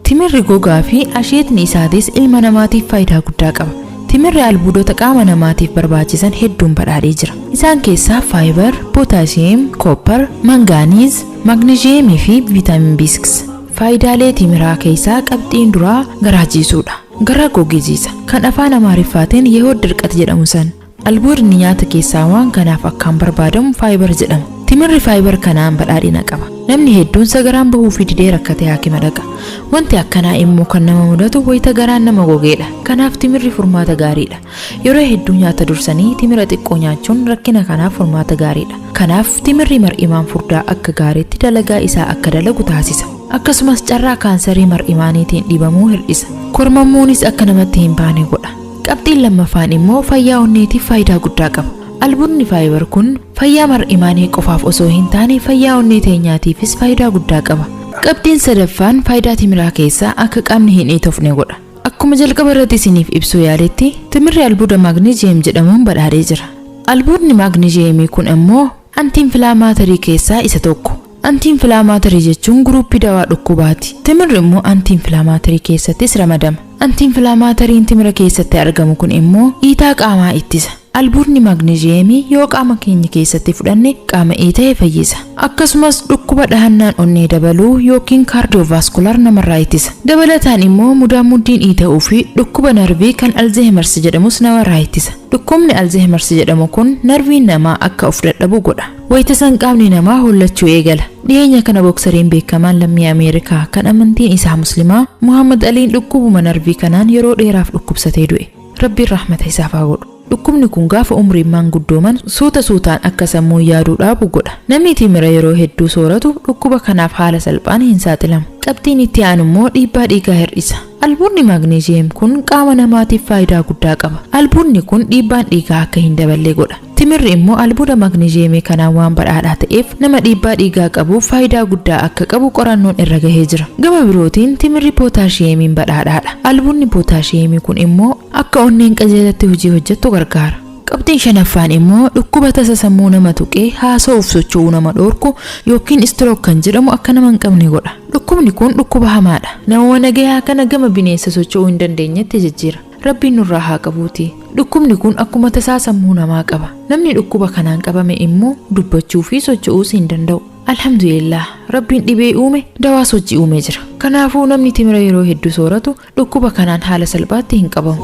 Timirri gogaa fi asheetni isaatis ilma namaatiif faayidaa guddaa qaba. Timirri albuudota qaama namaatiif barbaachisan hedduun badhaadhee jira. Isaan keessaa faayibar, pootaasiyeem, koopper, mangaaniiz, maagneezhiyeemii fi viitaamin B6. Faayidaalee timiraa keessaa qabxiin duraa garaa jiisuudha. Garaa goge jiisa. Kan afaan Amaariffaatiin yehood dirqat jedhamu san. Albuudni nyaata keessaa waan kanaaf akkaan barbaadamu faayibar jedhama. Timirri faayibar kanaan badhaadhina qaba. Namni hedduun sagaraan bahuufii didee rakkatee haakima dhaqa. Wanti akkanaa immoo kan nama mudatu wayita garaan nama gogeedha. Kanaaf timirri furmaata gaariidha. Yeroo hedduu nyaata dursanii timira xiqqoo nyaachuun rakkina kanaaf furmaata gaariidha. Kanaaf timirri mar'imaan furdaa akka gaariitti dalagaa isaa akka dalagu taasisa. Akkasumas carraa kaansarii mar'imaaniitiin dhibamuu hir'isa. Kormammuunis akka namatti hin baane godha. Qabxiin lammaffaan immoo fayyaa onneetiif faayidaa guddaa qaba. Albuudni fiber kun fayyaa mar'imaanii qofaaf osoo hin taane fayyaa onnee teenyaatiifis faayidaa guddaa qaba. Qabxiin sadaffaan faayidaa timiraa keessaa akka qaamni hin iitofne godha. Akkuma jalqaba irratti isiniif ibsuu yaaletti timirri albuuda maagneeziyem jedhamuun badhaadhee jira. Albuudni maagneeziyemii kun immoo antiinfilaamaatarii keessaa isa tokko. Antiinfilaamaatarii jechuun guruuppii dawaa dhukkubaati. Timirri immoo antiinfilaamaatarii keessattis ramadama. Antiinfilaamaatariin timira keessatti argamu kun immoo iitaa qaamaa ittisa. Albuudni maagneezhiyeemii yoo qaama keenya keessatti fudhanne qaama iita'e fayyisa. Akkasumas dhukkuba dhahannaan onnee dabaluu ykn kaardiyoovaaskular namarraa ittisa. Dabalataan immoo mudaanmuddiin iita'uu fi dhukkuba narvii kan Alzeehimarsi jedhamus namarraa ittisa. Dhukkubni Alzeehimarsi jedhamu kun narviin namaa akka of dadhabu godha. Wayita san qaamni namaa hollachuu eegala. Dhiyeenya kana boksariin beekamaan lammii Ameerikaa kan amantiin isaa Muslimaa Muhammad Aliin dhukkubuma narvii kanaan yeroo dheeraaf dhukkubsatee du'e. Rabbiin rahmata isaaf haa godhu. Dhukkubni kun gaafa umriin maanguddooman suuta suutaan akka sammuun yaaduu dhaabu godha. Namni timira yeroo hedduu sooratu dhukkuba kanaaf haala salphaan hin saaxilamu. Qabxiin itti aanu immoo dhiibbaa dhiigaa hir'isa. Albuunni maagneeziyem kun qaama namaatiif faayidaa guddaa qaba. Albuunni kun dhiibbaan dhiigaa akka hin daballe godha. Timirri immoo albuuda maagneezhiyeemii kanaan waan badhaadhaa ta'eef nama dhiibbaa dhiigaa qabuuf faayidaa guddaa akka qabu qorannoon irra gahee jira. Gama birootiin timirri pootaashiyeemiin badhaadhaadha. Albuudni pootaashiyeemii kun immoo akka onneen qajeelatti hojii hojjettu gargaara. Qabxiin shanaffaan immoo dhukkuba tasa sammuu nama tuqee haasa'uuf socho'uu nama dhoorku yookiin istirook kan jedhamu akka nama hin qabne godha. Dhukkubni kun dhukkuba hamaadha. Namuma nagayaa kana gama bineensa socho'uu hin dandeenyetti jijjiira. Rabbiin nurraa haa qabuuti. Dhukkubni kun akkuma tasaa sammuu namaa qaba. Namni dhukkuba kanaan qabame immoo dubbachuu fi socho'uus hin danda'u. Alhamdulillah Rabbiin dhibee uume dawaas hojii uumee jira. Kanaafuu namni timira yeroo hedduu sooratu dhukkuba kanaan haala salphaatti hin qabamu.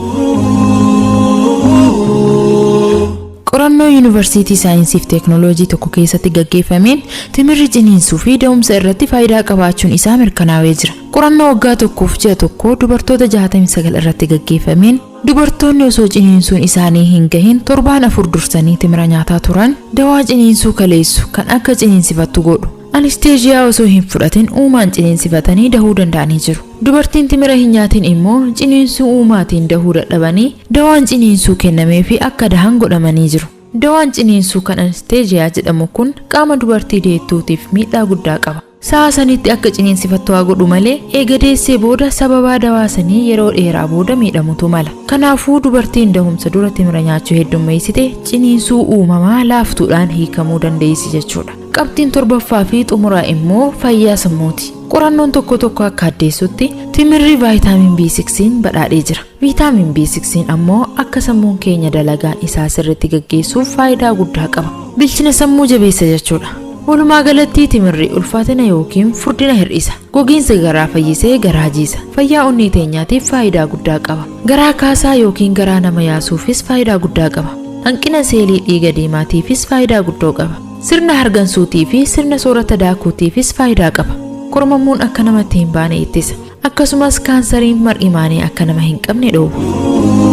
Qorannoo Yuunivarsiitii Saayinsii fi Teeknooloojii tokko keessatti gaggeeffameen timirri ciniinsuu fi da'umsa irratti faayidaa qabaachuun isaa mirkanaa'ee jira. Qorannoo waggaa tokkoof ji'a tokko dubartoota 69 irratti gaggeeffameen, dubartoonni osoo ciniinsuun isaanii hin gahin torbaan afur dursanii timira nyaataa turan, dawaa ciniinsuu kaleessu kan akka ciniinsifattu godhu, anesteezhiyaa osoo hin fudhatin uumaan ciniinsifatanii dahuu danda'anii jiru. Dubartiin timira hin nyaatin immoo ciniinsuu uumaatiin dahuu dadhabanii dawaan ciniinsuu kennameefii akka dahan godhamanii jiru. Dawaan ciniinsuu kan anesteezhiyaa jedhamu kun qaama dubartii deettuutiif miidhaa guddaa qaba. Sa'a sanitti akka ciniinsifattu haa godhu malee eega deessee booda sababaa dawaa sanii yeroo dheeraa booda miidhamutu mala. Kanaafuu dubartiin dahumsa dura timira nyaachuu heddummeessite ciniinsuu uumamaa laaftuudhaan hiikamuu dandeessi jechuudha. Qabxiin torbaffaa fi xumuraa immoo fayyaa sammuuti. Qorannoon tokko tokko akka addeessutti timirri vaayitaamin B6n badhaadhee jira. Viitaamin B6 ammoo akka sammuun keenya dalagaa isaa sirriitti gaggeessuuf faayidaa guddaa qaba. Bilchina sammuu jabeessa jechuudha. Walumaa galatti timirri ulfaatina yookiin furdina hir'isa. Gogiinsa garaa fayyisee garaa jiisa. Fayyaa onnee teenyaatiif faayidaa guddaa qaba. Garaa kaasaa yookiin garaa nama yaasuufis faayidaa guddaa qaba. Hanqina seelii dhiiga diimaatiifis faayidaa guddoo qaba. Sirna hargansuutii fi sirna soorata daakuutiifis faayidaa qaba. Kormammuun akka namatti hin baane ittisa. Akkasumas kaansariin mar'imaanii akka nama hin qabne dhoowwa.